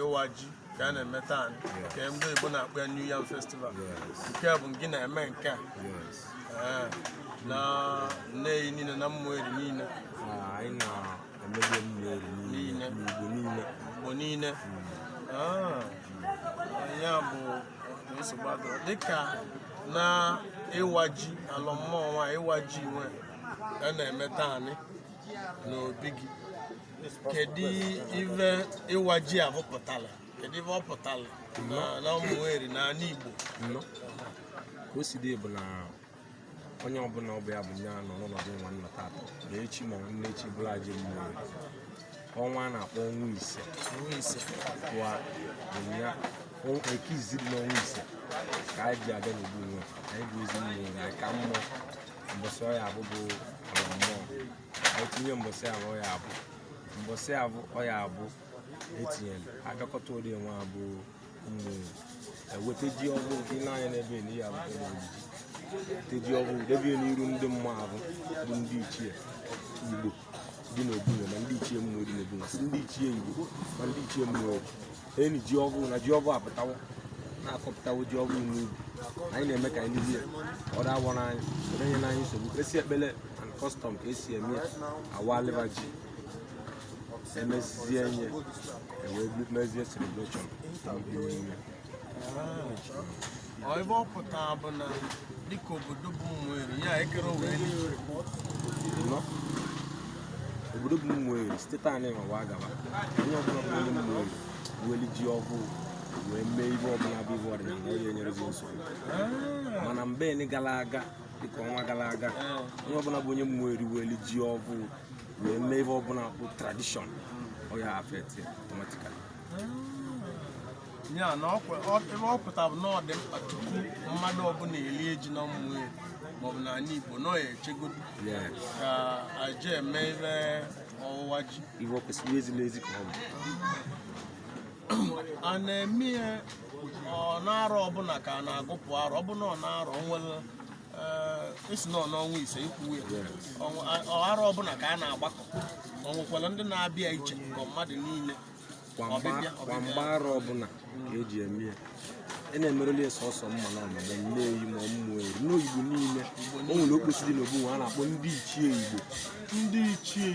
ịwa ji ka a na-eme taa nke ndị Igbo na-akpọ ya New Yam Festival nke a bụ gị na-eme nke a eh, na Nneyi niile na Ụmụeri niile anyị na-emebe Ụmụeri niile n'Igbo niile Igbo niile hmm. ah, ya bụ nsogbu adọrọ dịka na ịwa ji alọ mmụọ nwa ịwa ji nwa a na-eme taa n'obi gị kedu ife ịwa ji abụ pụtala kedu ife ọ pụtala na Ụmụeri na anị Igbo nọ ka o si dị bụ na onye ọbụla ọ bụ ya bụ onye nọ n'ọnọdụ nwa na taata na echi ma nne echi bụrụ aji mmụọ ọnwa a na-akpọ ọnwa ise ọnwa ise wa ya Eke izizi dị n'ọnwa ise ka anyị ji abịa n'obu nwa anyị bụ ezi mmụọ na ka mmụọ mbọsị Oye abụ bụ alọ mmụọ etinye mbọsị abụ Oye abụ mbọsị abụ Oye abụ etinye agakọta ụdị nwa abụ mgbe eweta ji ọhụụ gị n'anya n'ebe na ya abụ eweta ji ọhụụ debie n'iru ndị mmụọ abụ bụ ndị ichie Igbo dị n'obu nwa ma ndị ichie mmụọ dị n'obu nwa sị ndị ichie Igbo ma ndị ichie mmụọ enyi ji ọvụ na ji ọvụ apụtawo na akọpụtawo ji ọvụ n'ubi anyị na-eme ka anyị lie ọ dawa n'anya onye n'anya nsogbu esi ekpele and custom ka esi eme ya awa alịba ji emezie ya ewee mezie celebration ife ọ pụtara bụ na dịka obodo bụ Ụmụeri ya ekere wee obodo bụ Ụmụeri site taa na ịmawa agaba onye ọbụla bụ onye Ụmụeri weli ji ọhụụ wee mee ihe ọbụla bụ ihe ọdịnala onye enyerezi nsogbu ah. mana mgbe gara aga dịka ọnwa gara aga ah. onye ọbụla bụ onye Ụmụeri weli ji ọhụụ wee mee ihe ọbụla bụ tradition ọ ya-affect automatically ah. ya na ife ọ pụtara bụ na ọ dị mkpa tupu mmadụ ọbụla elie ji na Ụmụeri maọbụ na anị Igbo nọ ya echegodu ka a ja-eme ife ọwụwa ji ife kwesịrị ezila ezi ka ọ bụ a na-eme ya ọ n'arọ ọbụla ka a na-agụpụ arọ ọbụla ọ na arọ nwere isi nọ n'ọnwa ise kwa arọ ọbụla ka a na-agbakọ o nwekwara ndị na-abịa iche ka mmadụ niile kwa mgbe arọ ọbụla ka eji eme ya ị e na-emerụli ya sọsọ ma na ụmụ Nneyi ma Ụmụeri n'Igbo niile o nwere okposi dị n'obu nwa a na-akpọ ndị ichie Igbo ndị ichie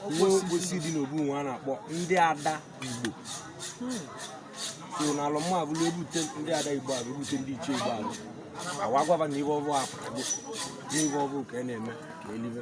Igbo okposi dị n'obu nwa a na-akpọ ndị ada Igbo hmm. so na alọ mmụọ ọbụla ebute ndị ada Igbo abụ ebute ndị ichie Igbo abụ ewee gwa va na ife ọvụ apụtago na ife ọvụ ka a e na-eme ka elibe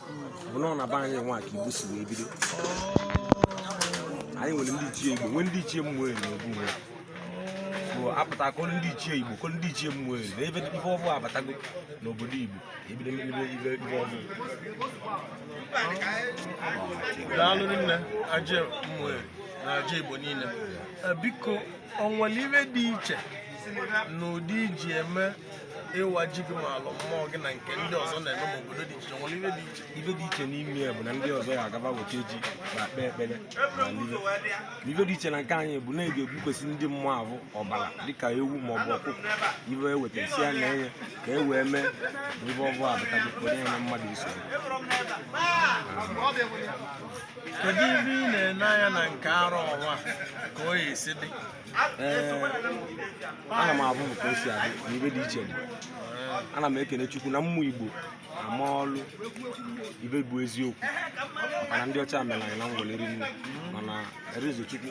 bụ na ọ na be anyị nwa ka igbo si wee bido anyị nwere ndị ichie igbo nwee ndị ichie ụmụeri n'obu nwe bụ apụta kọrọ ndị ichie igbo kọrọ ndị ichie ụmụeri na ebe ife ọvụụ abatago n'obodo igbo ebido mbido ive ive ọvụụ daalụ rinne aje ụmụeri na aje igbo niile Eh, biko o nwere ive dị iche na ụdị i ji eme ịwa ji gị ma alọ mmụọ gị na nke ndị ọzọ na-eme ma obodo dị iche nwere ive dị iche ive dị iche n'ime ya bụ na ndị ọzọ ya agaba weta ji ma kpee ekpere mana ive dị iche na nke anyị bụ na ị ga-egbukwesị ndị mmụọ ahụ ọbara dịka ewu ma ọ bụ ọkụkọ ive e wetara sị ya na enye ka e wee mee na ive ọvụụ abatago onye na mmadụ iso kedu ive ị na-ene anya na nke arọ ọnwa ka ọ ya-esi dị ana m avụ ka o si adị na ive dị iche dị ana m ekene chukwu na ụmụ igbo ama ọlụ ive bụ eziokwu mana ndị ọcha mere anyị na ngwele rinne mana erezo chukwu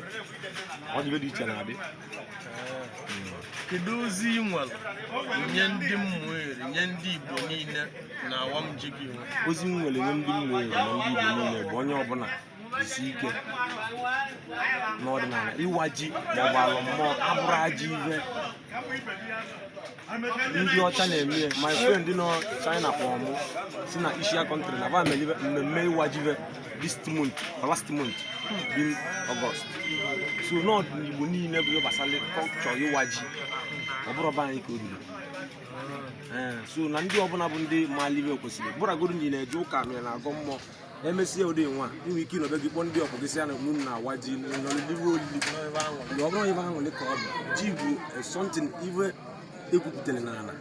ọ dị ive dị iche na-adị kedu ozi ị nwere nye ndị ụmụeri nye ndị igbo niile na awam ji gị nwa ozi m nwere nye ndị ụmụeri na ndị igbo niile bụ onye ọbụla isi ike n'ọdịnala ịwa ji maọbụ alọ mmụọ abụrọ ajọ ive ndị ọcha na-eme ya my friend nọ China kpọrọ mụ sị na Asia country na va melive mmemme ịwa ji va this month or last month being August so na ọ dị n'igbo niile bụ ihe gbasara culture ịwa ji ọ bụrọ ọba anyị ka o ruru so na ndị ọbụla bụ ndị malụ ive kwesịrị bụrụgodu na ị na-eje ụka na ị na-agọ mmụọ e mesie ụdị nwa i nwe ike ịnọ be gị kpọọ ndị ọgbọ gị sị ya na mụ na-awa ji n'oliliwe olili ọ bụrọ ive arụ ka ọ bụ ji bụ something ive e gwupụtara n'ala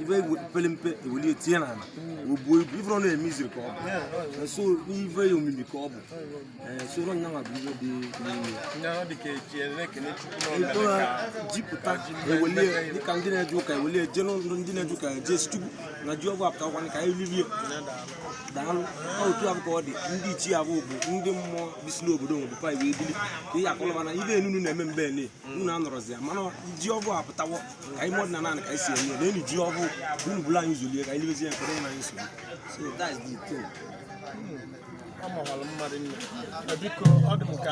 ive pere mpe e weli tinye n'ala o buo ibu ife ọnwa mystery ka ọ bụ so n'ife omimi ka ọ bụ so ọ nyanwa bụ ive dị ji pụta e welie dịka ndị na-eje ụka e welie jee n'ụlọ ndị na-eje ụka jee sị chukwu na ji ọvụụ apụtawokwanị ka anyị livie daalụ otu avụ ka ọ dị ndị ichie avụ bụ ndị mmụọ bisi n'obodo nwere pa iwe ebili ka ihe a kọlụ va na ive unu na-eme mgbe ele unu anọrọzi ya mana ji ọvụụ apụtawo ka anyị mọdụ na naanị ka anyị sị enye na enyi ji ọvụụ unu buru anyị ụzọ lie ka anyị libezie ya ka ọ ghara inye anyị nsogbu ọ mawara mma rinne biko ọ dị m ka